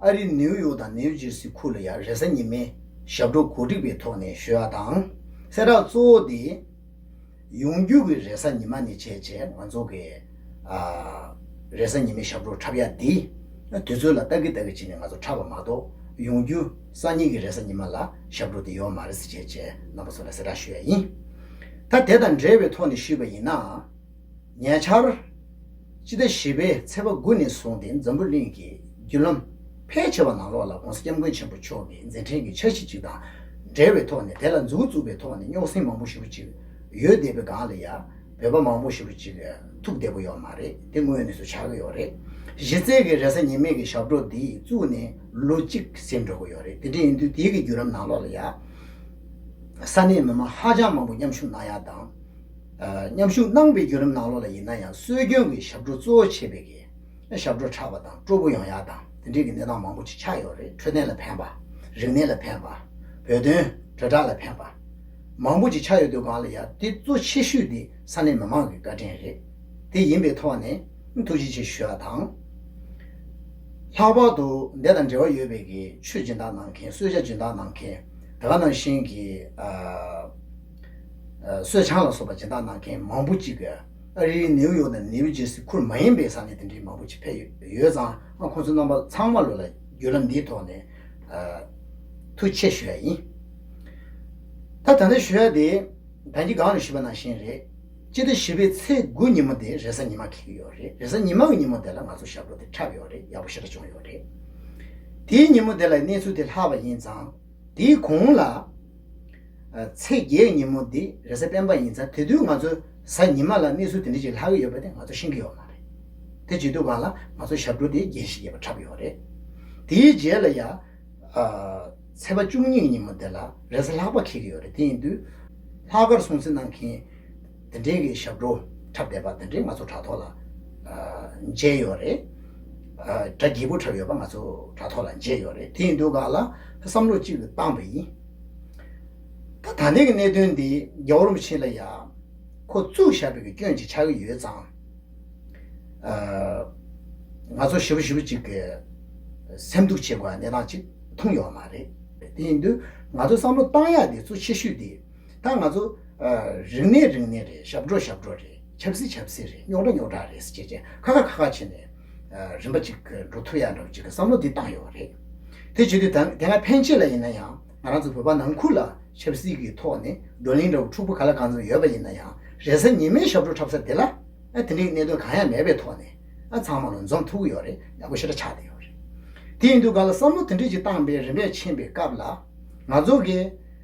ཨ་རིའི་ནེའུ་ཡོག་དང་ནེའུ་ཇེར་སི་ཁུལ་ལ་ཡང་རེས་གཟའ་ཉི་མའི་ཞབས་བྲོ་གོ་སྒྲིག་པའི་ཐོག་ནས་ཞོལ་ཨ་དང། སེ་རག་གཙོ་བོ་དེ། ཡོང་རྒྱུགས་ཀྱི་རེས་གཟའ་ཉི་མ་ནས་བྱས་རྗེས་ང་ཚོ་གི། རེས་གཟའ་ཉི་མའི་ཞབས་བྲོ་འཁྲབ་ཡ་འདི། དུས་ཚོད་ལ་ལྟ་གི་ལྟ་གི་བྱས་ནས་ང་ཚོ་འཁྲབ་པ་མ་གཏོགས་ཡོང་རྒྱུགས་སང་ཉིན་གྱི་རེས་གཟའ་ཉི་མ་ལ་ཞབས་བྲོ་འདི་ཡོད་མ་རེད་ཟེར་བྱས་རྗེས་རྣམ་པ་ཚོ་ལ་གསལ་བསྒྲགས་ཞུ་ཡ་ཡིན། ད་དེ་དང་འབྲེལ་བའི་ཐོག་ནས་ཞུས་པ་ཡིན་ན། ཉེ་ཆར། སྤྱི་ཟླ་བཞི་པའི་ཚེས་པ་དགུ་ནས་བཟུང་སྟེ་འཛམ་བུ་གླིང་གི་བརྒྱུད་ལམ་ཕལ་ཆེ་བ་ནང་ལོགས་ལ ྋགོང་ས ྋསྐྱབས་མགོན་ཆེན་པོ་མཆོག་གི་མཛད་འཕྲིན་གྱི་འཆར་གཞི་ཅིག་དང་འབྲེལ་བའི་ཐོག་ནས་དེ་ལ་མཛུབ་བཙུགས་པའི་ཐོག་ནས་རྙོག་ཟིང་མང་པོ་ཞུ་རུ་ཅིག་ཡོད་བསྡད་པའི་སྒང་ལ་ཡ་བོད་པ་མང་པོ་ཞུ་རུ་ཅིག་ཐུག་བསྡད་པོ་ཡོད་མ་རེད་དེ་དངོས་གནས་སུ་ཆགས་ཀྱི་ཡོད་རེད། གཞི་རྩའི་གི་རེ་ས་ཉེས་མེད་གི་ཞབས་བྲོ་འདི་བཙུགས་ནས་ལོ་གཅིག་ཟིན་འགྲོ་གི་ཡོད་རེད་དེ་འདྲ་ཡིན་དུས་དེའི་གི་བརྒྱུད་ལམ་ནང་ལོགས་ལ་ཡ་ས་གནས་མི་མང་ཧ་ཅང་མང་པོ་མཉམ་ཞུགས་གནང་ཡག་དང། མཉམ་ཞུགས་གནང་བའི་བརྒྱུད་ལམ་ནང་ལོགས་ལ་ཡིན་ན་ཡང་སྲོལ་རྒྱུན་གྱི་ཞབས་བྲོ་གཙོ་བོ་བྱེད་པའི་གི་ཞབས་བྲོ་ཕྲ་བ་དང་སྤྲོ་པོ་ཡོང་ཡག་དང་དེ་འབྲེལ་གྱི་གནས་སྟངས་མང་པོ་ཅིག་ཆགས་ཡོད་རེད་འཕྲོད་བསྟེན་ལ་ཕན་པ། རིག་གནས་ལ་ཕན་པ། བོད་དོན་དྲིལ་བསྒྲགས་ལ་ཕན་པ། མང་པོ་ཅིག་ཆགས་ཡོད་དུས་སྒང་ལ་ཡ་དེ་གཙོ་ཆེ་ཤོས་དེ་ས་གནས་མི་མང་གི་བཀའ་དྲིན་རེད། དེ་ཡིན་པའི་ཐོག་ནས་ཐུགས་རྗེ་ཆེ་ཞུ་བ་དང། ལྷག་པར་དུ་འདས་དང་འབྲེལ་བ་ཡོད་པའི་གི་ཆོས་སྦྱིན་བདག་གནང་མཁན་གསོལ་ཇ་སྦྱིན་བདག་གནང་མཁན་དེ་ག་ནང་བཞིན་གྱི། གསོད་ཆང་ལ་སོགས་པ་སྦྱིན་བདག་གནང་མཁན་མང་པོ་གཅིག་གིས་ཨ་རིའི་ནེའུ་ཡོག་དང་ནེའུ་ཇེར་སི་ཁུལ་མ་ཡིན་པའི་ས་གནས་དེ་འདྲའི་མང་པོ་ཆེ་ཕེབས་ཡོད་ཙང་ཁོ་ཚོའི་རྣམ་པ་ཚང་མ་ལོ་ལ་བརྒྱུད་ལམ་འདིའི་ཐོག་ནས་ཐུགས་ཆེ་ཞུ་ཡ་ཡིན། ད་ད་ལྟ་ཞུ་ཡ་དེ་ད་གྱི་སྒང་རེ་བཞི་པ་ན་བཞིན་རེད། སྤྱི་ཟླ་བཞི་པའི་ཚེས་དགུ་ཉིན་མོ་དེ་རེས་གཟའ་ཉི་མ་འཁེལ་གྱི་ཡོད་རེད་རེས་གཟའ་ཉི་མ་གི་ཉིན་མོ་དེ་ལ་ང་ཚོ་ཞབས་བྲོ་དེ་འཁྲབ་ཡོད་རེད་ཡག་པོ་ཞེ་དྲག་བྱུང་ཡོད་རེད། དེའི་ཉིན་མོ་དེ་ལ་གནས་ཚུལ་དེ་ལྷག་པ་ཡིན་ཙང། དེའི་གོང་ལ། ཚེས་བརྒྱད་ཉིན་མོ་འདི་རེས་གཟའ་སྤེན་པ་ཡིན་ཚ་དེ་དུས་ང་ཚོ་གཟའ་ཉི་མ་ལ་གནས་ཚུལ་དེ་འདྲ་ཅིག་ལྷག་གི་ཡོད་པ་དེ་ང་ཚོ་ཤེས་ཀྱི་ཡོད་མ་རེད། དེ་བྱེད་དུས་བ་ལ་ང་ཚོ་ཞབས་བྲོ་དེ་རྒྱན་ཞིག་རྒྱས་པ་འཁྲབ་ཡོད་པ་རེད། དེའི་རྗེས་ལ་ཡ། ཚེས་པ་བཅུ་གཉིས་ཉིན་མོ་དེ་ལ་རེས་གཟའ་ལྷག་པ་འཁེལ་གྱི་ཡོད་རེད་དེ་ཡིན་དུས། ལྷག་དཀར་སྲུང་བརྩི་གནང་མཁན། འདི་འདྲའི་གི་ཞབས་བྲོ་འཁྲབ་བསྡད་པ་འདི་འདྲའི་ང་ཚོ་དྲ་ཐོག་ལ་མཇལ་ཡོད་རེད། དྲ་རྒྱས་པོ་འཁྲབ་ཡོད་པ་ང་ཚོ་དྲ་ཐོག་ལ་མཇལ་ཡོད་རེད་དེ་ཡིན་དུས་ག་ལ་བསམ་བློ་གཅིག་བཏང་བ་ཡིན། ད་ད་ནས་གི་གནད་དོན་འདི་རྒྱ་བོར་མི་བྱེད་ལ་ཡ། ཁོ་བཙུགས་བཞག་པའི་གི་སྐྱོན་ཅིག་ཆགས་གི་ཡོད་ཙང། ང་ཚོ་ཞི་བོ་ཞི་བོ་ཅིག་གི་སེམས་སྡུག་བྱེད་དགོས་པ་གནས་སྟངས་ཅིག་མཐོང་ཡོད་མ་རེད། དེ་ཡིན་དུས་ང་ཚོ་བསམ་བློ་བཏང་ཡག་འདི་ཚོ་ཆེ་ཤོས་འདི། ད་ང་ཚོ། རིང་ནས་རིང་ནས་རེད་ཞབས་བྲོ་ཞབས་བྲོ་རེད་ཆབ་སྲིད་ཆབ་སྲིད་རེད་རྙོག་དྲ་རྙོག་དྲ་རེད་ཅེས་ཅེས་ཁ་ཁ་ཁ་ཁ་བྱས་ནས། རིམ་པ་ཅིག་འགྲོ་ཐུབ་ཡག་འདྲ་བོ་ཅིག་གི་བསམ་བློ་འདི་བཏང་ཡོད་པ་རེད། དེ་བྱེད་དུས་དེ་སྔ་ཕན་ཆད་ལ་ཡིན་ན་ཡང་ང་རང་ཚོ་བོད་པ་ནང་ཁུལ་ལ་ཆབ་སྲིད་ཀྱི་ཐོག་ནས་བགྲོ་གླེང་འདྲ་བོ་འཁྲུག་པོ་ག་ལ་གང་ཙམ་ཡོད་པ་ཡིན་ན་ཡང་རེས་གཟའ་ཉི་མའི་ཞབས་བྲོ་འཁྲབ་ས་དེ་ལ། དེ་འདྲའི་གནད་དོན་གང་ཡང་མེད་པའི་ཐོག་ནས། ཚང་མ་ལ་འཛོམས་ཐུབ་ཀྱི་ཡོད་རེད་ཡག་པོ་ཞེ་དྲག་ཆགས་བསྡད་ཡོད་རེད། དེ་ཡིན་དུས་ག་ལ་བསམ་བློ་དེ་འདྲས་ཅིག་བཏང་པའི་རིམ་པས་ཕྱིན་པའི་སྐབས་ལ། ང་ཚོ་གས།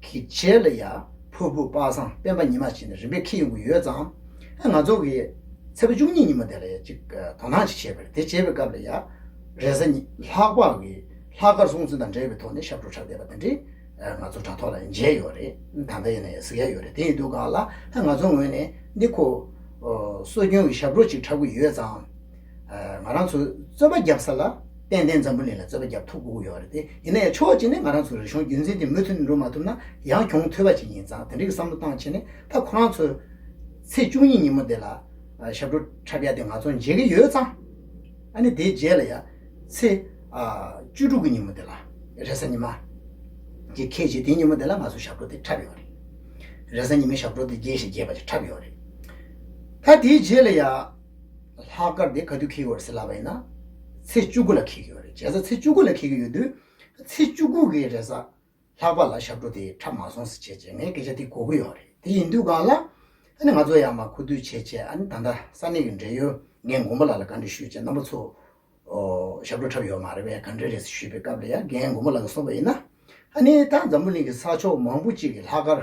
གི་རྗེས་ལ་ཡ་ཕུར་བུ་དཔག་བསམ་སྤེན་པ་ཉི་མ་བྱས་ནས་རིམ་པས་ཁེ་ཡོང་གི་ཡོད་ཙང། ང་ཚོ་གིས་ཚེས་པ་བཅུ་གཉིས་ཉིན་མོ་དེ་ལ་ཡ་གཅིག་དོ་སྣང་ཅིག་བྱས་པ་རེད་དེ་བྱས་པའི་སྐབས་ལ་ཡ་རེས་གཟའ་ཉི་ལྷག་པ་གི་ལྷག་དཀར་སྲོང་བཙན་དང་འབྲེལ་བའི་ཐོག་ནས་ཞབས་བྲོ་འཁྲབ་བསྡད་པ་དེ་འདྲས་ང་ཚོ་དྲ་ཐོག་ལ་མཇལ་ཡོད་རེད་ད་ལྟ་ཡིན་ན་ཡང་གཟིགས་ཡ་ཡོད་རེད་དེ་ཡིན་དུས་སྒང་ལ་ང་ཚོ་ངོས་ནས་འདི་ཁོ་སྲོལ་རྒྱུན་གྱི་ཞབས་བྲོ་ཅིག་འཁྲབ་གི་ཡོད་ཙང། ང་རང་ཚོ་རྩོད་པ་བརྒྱབ་ས་ལ་ཏན་ཏན་འཛམ་བུ་གླིང་ལ་རྩོད་པ་བརྒྱབ་ཐུབ་དགོས་ཀྱི་ཡོད་པ་རེད་དེ་ཡིན་ན་ཡང་ཕྱོགས་གཅིག་ནས་ང་རང་ཚོ་རིག་གཞུང་རྒྱུན་འཛིན་དེ་མུ་མཐུད་འགྲོ་མ་ཐུབ་ན་ཡང་གྱོང་ཐོས་པ་ཞིག་ཡིན་ཙང་དེ་འགྲིག་གི་བསམ་བློ་གཏང་ཆེད་ནས་ད་ཁོ་རང་ཚོས་ཚེས་བཅུ་གཉིས་ཉིན་མོ་དེ་ལ་ཞབས་བྲོ་འཁྲབ་ཡ་དེ་ང་ཚོ་མཇལ་གྱི་ཡོད་ཙང་ཨ་ནི་དེའི་རྗེས་ལ་ཡང་ཚེས་བཅུ་དྲུག་གི་ཉིན་མོ་དེ་ལ་རེས་གཟའ་ཉི་མ་དེ་ཁེལ་རྗེས་དེའི་ཉིན་མོ་དེ་ལ་ང་ཚོ་ཞབས་བྲོ་དེ་འཁྲབ་ཡོད་རེད། རེས་གཟའ་ཉི་མའི་ཞབས་བྲོ་དེ་རྗེས་ཤིག་རྒྱས་པ་ཞིག་འཁྲབ་ཡོད་རེད། ད་དེའི་རྗེས་ལ་ཡང། ལྷག་དཀར་དེ་ག་དུས་འཁེལ་གི་ཡོད་རེད་ཟེར་ལབ་པ་ཡིན་ན། ཚེས་བཅུ་དགུ་ལ་འཁེལ་གི་ཡོད་རེད་བྱས་ཙང་ཚེས་བཅུ་དགུ་ལ་འཁེལ་གི་ཡོད་དུས། ཚེས་བཅུ་དགུ་གི་རེས་གཟའ་ལྷག་པ་ལ་ཞབས་བྲོ་དེ་འཁྲབ་མ་སོང་ཟེར་བྱས་རྗེས་ངས་སྐད་ཆ་དེ་གོ་གི་ཡོད་རེད་དེ་ཡིན་དུས་གང་ལ། ཨ་ནི་ང་ཚོ་ཡར་མར་ཁུ་བསྡུ་བྱས་རྗེས་ཨ་ནི་ད་ལྟ་ས་གནས་ཀྱི་འབྲེལ་ཡོད་ངས་མགོན་པོ་ལགས་ལ་ག་འདྲི་ཞུས་རྗེས་རྣམ་པ་ཚོ། ཞབས་བྲོ་འཁྲབ་ཡོད་མ་རེད་བས་ག་འདྲི་རེད་ཟེར་ཞུས་པའི་སྐབས་ལ་ཡར་རྒན་མགོན་པོ་ལགས་ཀྱིས་གསུངས་པ་ཡིན་ན། ཨ་ནི་ད་འཛམ་བུ་གླིང་གི་ས་ཕྱོགས་མང་པོ་ཅིག་གི་ལྷག་དཀར།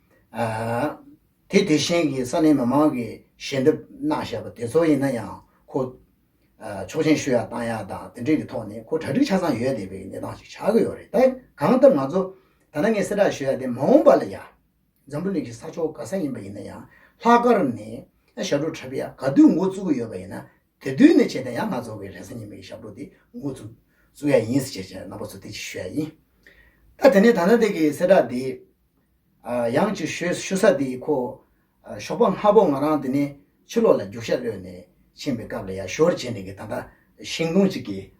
དེ་དེ་བཞིན་གྱི་ས་གནས་མི་མང་གི་ཞལ་འདེབས་གནང་བཞེས་པ་དེ་ཚོ་ཡིན་ན་ཡང་ཁོ་ཆོག་མཆན་ཞུ་ཡག་བཏང་ཡག་དང་དེ་འབྲེལ་གྱི་ཐོག་ནས་ཁོ་གྲ་སྒྲིག་ཆ་ཚང་ཡོད་བསྡད་པའི་གནས་སྟངས་ཤིག་ཆགས་ཀྱི་ཡོད་རེད་ད་གང་ལྟར་ང་ཚོ་ད་ནངས་གསལ་བསྒྲགས་ཞུ་ཡག་དེ་མ་འོངས་པ་ལ་ཡ། འཛམ་བུ་གླིང་གི་ས་ཕྱོགས་ག་ས་ཡིན་པ་ཡིན་ན་ཡང་ལྷག་དཀར་ནས་ཞབས་བྲོ་འཁྲབ་ཡག་ག་དུས་འགོ་བཙུགས་ཀྱི་ཡོད་པ་ཡིན་ན་དེ་དུས་ནས་བྱས་ཏེ་ཡང་ན་རྫོགས་པའི་རེས་གཟའ་ཉི་མ་ཡི་ཞབས་བྲོ་དེ་ངོ་བཙུགས། བཙུགས་ཡ་ཡིན་ཟེར་བྱས་ནག་པོ་ཚོ་དེ་ཅི་ཞུ་ཡ་ཡིན། ད་དེ་ནས་ད་ནང་དེ་གི་གསལ་བསྒྲགས་འདི། ཡང་ཅིག་ཞུས་ཞུ་ས་འདི་ཁོ། ཞོགས་པ་སྔ་པོ་ང་རང་དེ་ནས་ཕྱི་ལོགས་ལ་རྒྱུག་ཤ་གློད་ནས་ཕྱིན་པའི་སྐབས་ལ་ཡར་ཞོར་བྱས་འདི་གི་ད་ལྟ་ཤིང་སྡོང་ཅིག་གི་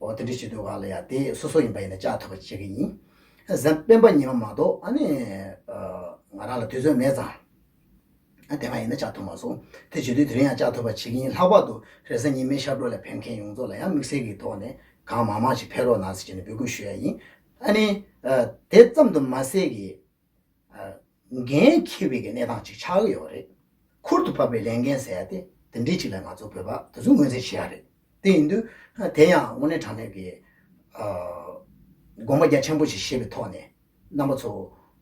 འོ་དེ་འདྲའི་ཞིག་འདུག་ག་ལ་ཡ་དེ་སོ་སོ་ཡིན་པ་ཡིན་ན་བཅའ་ཐུབ་པ་བྱེད་ཀྱི་ཡིན། གཟན་སྤེན་པ་ཉིན་མ་མ་གཏོགས་ཨ་ནི། ང་རང་ལ་དུས་ཚོད་མེད་ཙང། དེ་སྔ་ཡིན་ན་བཅའ་ཐུབ་མ་སོང། དེ་བྱེད་དུས་དེ་རིང་ཡང་བཅའ་ཐུབ་པ་བྱེད་ཀྱི་ཡིན་ལྷག་པར་དུ་རེས་གཟའ་ཉི་མའི་ཤར་གྲོ་ལ་ཕེབས་མཁན་ཡོངས་རྫོགས་ལ་ཡང་དམིགས་བསལ་གྱི་ཐོག་ནས་གང་མང་མང་ཞིག་ཕེབས་རོགས་གནང་ཟེར་ནས་འབོད་སྐུལ་ཞུ་ཡ་ཡིན། ཨ་ནི། དེ་ཙམ་དུ་མ་ཟད་ཀྱི། འགན་འཁྱེར་བའི་གནས་སྟངས་གཅིག་ཆགས་ཀྱི་ཡོད་པ་རེད། ཁུར་དུ་ཕབ་པའི་ལས་འགན་ཟེར་ཡ་དེ་དེ་འདྲའི་གཅིག་ལ་ང་ཚོ་བོད་པ་དེ་ཚོས་ངོས་འཛིན་བྱེད་ཡ་རེད། དེ་ཡིན་དུས་དེ་ཡང་དངོས་གནས་དྲང་གནས་ཀྱི་དགོངས་པ་རྒྱ་ཆེན་པོ་ཞིག་བཞེས་པའི་ཐོག་ནས་རྣམ་པ་ཚོ་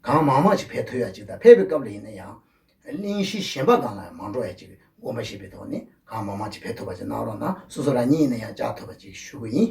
གང་མང་མང་ཞིག་ཕེབས་ཐུབ་ཡ་གཅིག་དང་ཕེབས་པའི་སྐབས་ལ་ཡིན་ན་ཡང་གླིང་གཞི་གཞན་པ་གང་ལ་ཡང་མ་འགྲོ་ཡ་གཅིག་གི་དགོངས་པ་བཞེས་པའི་ཐོག་ནས་གང་མང་མང་ཅིག་ཕེབས་ཐུབ་པ་ཅིག་གནང་རོགས་གནང་སོ་སོ་རང་ཉིད་ཡིན་ན་ཡང་བཅར་ཐུབ་པ་ཅིག་ཞུ་གི་ཡིན།